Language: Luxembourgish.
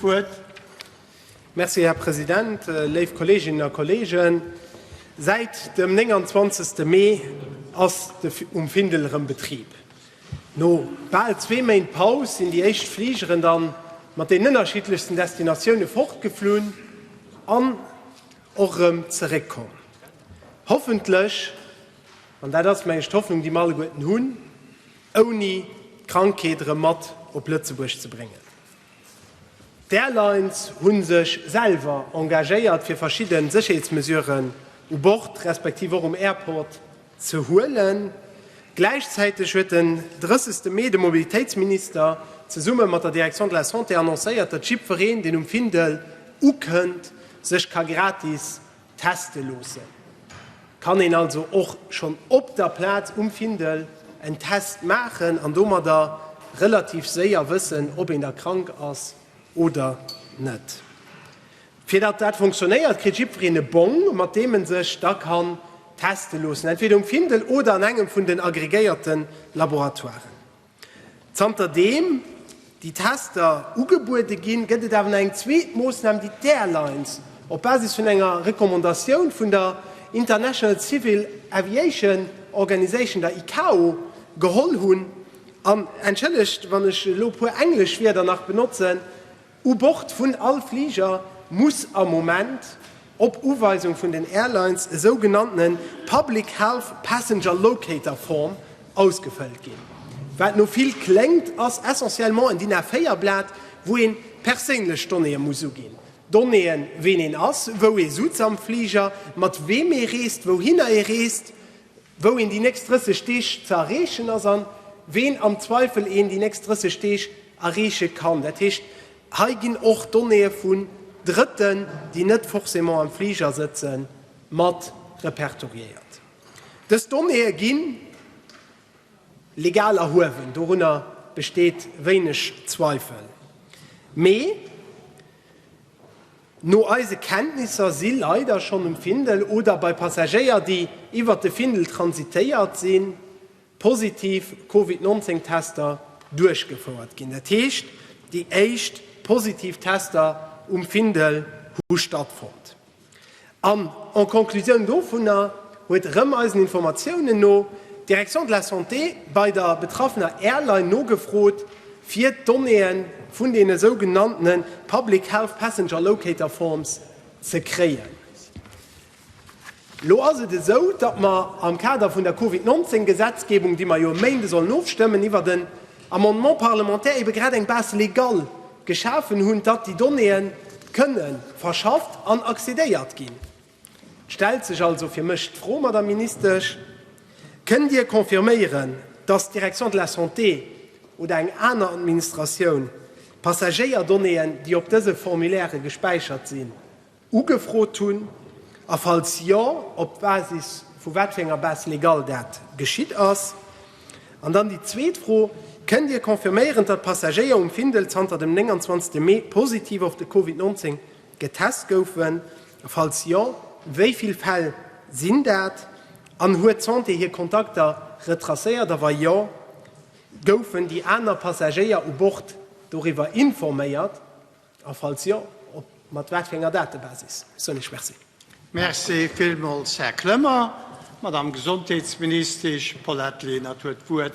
D'Wuert. Merci, Här President. Léif Kolleeginnen a Kolleegen, säit dem 29. Mee ass de um Findel erëm Betrib. No bal zwee Méint Paus sinn déi éischt Fligeren da mat den ënnerschiddlechsten Destinatioune fortgeflunn an och erëm zeréckkomm. Hoffentlech, an dat ass mengen ech d'Hoffnung, déi mer alleguerten hunn, ouni d'Krankheet erëm mat op Lëtzebuerg ze bréngen. D'Airlines hu sech selwer engagéiert fir verschidde Sécherheetsmesuren u Bord respektiv och um Airport ze huelen. Gläichzäiteg huet den 30 Mee de Mobilitéitsminister zesumme mat der Direction de la Santé annoncéiert, datt jiddwereen, deen um Findel ukënnt, sech ka gratis Teste loossen, kann een also och schonn op der Plaz um Findel en Test maachen an domadder relativ séier wëssen, ob een da krank ass oder net. Fir datt dat funktionéiert, kritt jiddwereen e Bong, mat deem e sech da kann teste loossen, entweder um Findel oder an engem vun den agregéierte Laboratoiren. Zanter deem déi Tester ugebuede ginn, gëtt et awer nach eng zweet Moossnam, déi d'Airlines op Basis vun enger Recommandatioun vun der International Civil Aviation Organization, der ICAO, geholl hunn. An entschëllegt, wann ech elo e puer englesch Wierder nach benotzen, U Bord vun all Fliger muss am Moment, op Uweisung vun den Airlines, e sou genannte Public Health Passenger Locator Form ausgefëllt ginn. Wat no vill kléngt, ass essentiellement en DIN A4 Blat, wou een perséinlech Donnéeë muss uginn, Donnéeën, ween een ass, wou ee sutz am Fliger, mat weem ee reest, wouhinner ee reest, wou een déi nächst 30 Deeg ze erreechen ass an ween am Zweifel een déi nächst 30 Deeg erreeche kann. Dat heescht, hei ginn och Donnéeë vun Drëtten, déi net forcément am Fliger sëtzen, mat repertoriéiert. Dës Donnéeë gi legal erhuewen, dorunner besteet wéineg Zweifel. Mee No eise Kenntnisser si leider schonn um Findel oder bei Passagéier, déi iwwert de Findel transitéiert sinn, positiv Covid 19 Tester duerchgefouert ginn. Dat heescht, déi éischt positiv Tester um Findel hu stattfonnt. An en Conclusioun dovunner huet erëm eisen Informatiounen no d'Direction de la Santé bei der betraffener Airline nogefrot, fir d'Donnéeë vun deene sougenannte Public Health Passenger Locator Forms ze kréien. Elo ass et esou, datt mer am Kader vun der Covid 19 Gesetzgebung, déi mer jo e Méinde sollen ofstëmmen, iwwert en Amendement parlementaire ebe grad eng Base légale geschafen hunn, datt déi Donnéeë kënne verschafft an accédéiert ginn. Et stellt sech also fir mech d'Fro, Madame Ministesch, Kënnt Dir confirméieren, dass d'Direction de la Santé oder eng aner Administratioun d'Passagéierdonnéeën, déi op dëse Formulairë gespäichert sinn, ugefrot hunn a falls jo, op Basis vu wat fir enger Base légale dat geschitt ass? An dann déi zweet Fro, Kënnt Dir confirméieren, datt d'Passagéier um Findel zanter dem 29 Mee positiv op de Covid 19 Getest goufen? Falls jo, wéi vill Fäll sinn dat? An huet d'Santé hir Kontakter retracéiert? A wa jo, goufen déi aner Passagéier u Bord doriwwer informéiert? A falls jo, op mat wat fir enger Datebasis? Sou eng Merci. Merci villmools, Här Clement. D'Madame Gesondheetsministesch Paulette Lenert huet d'Wuert.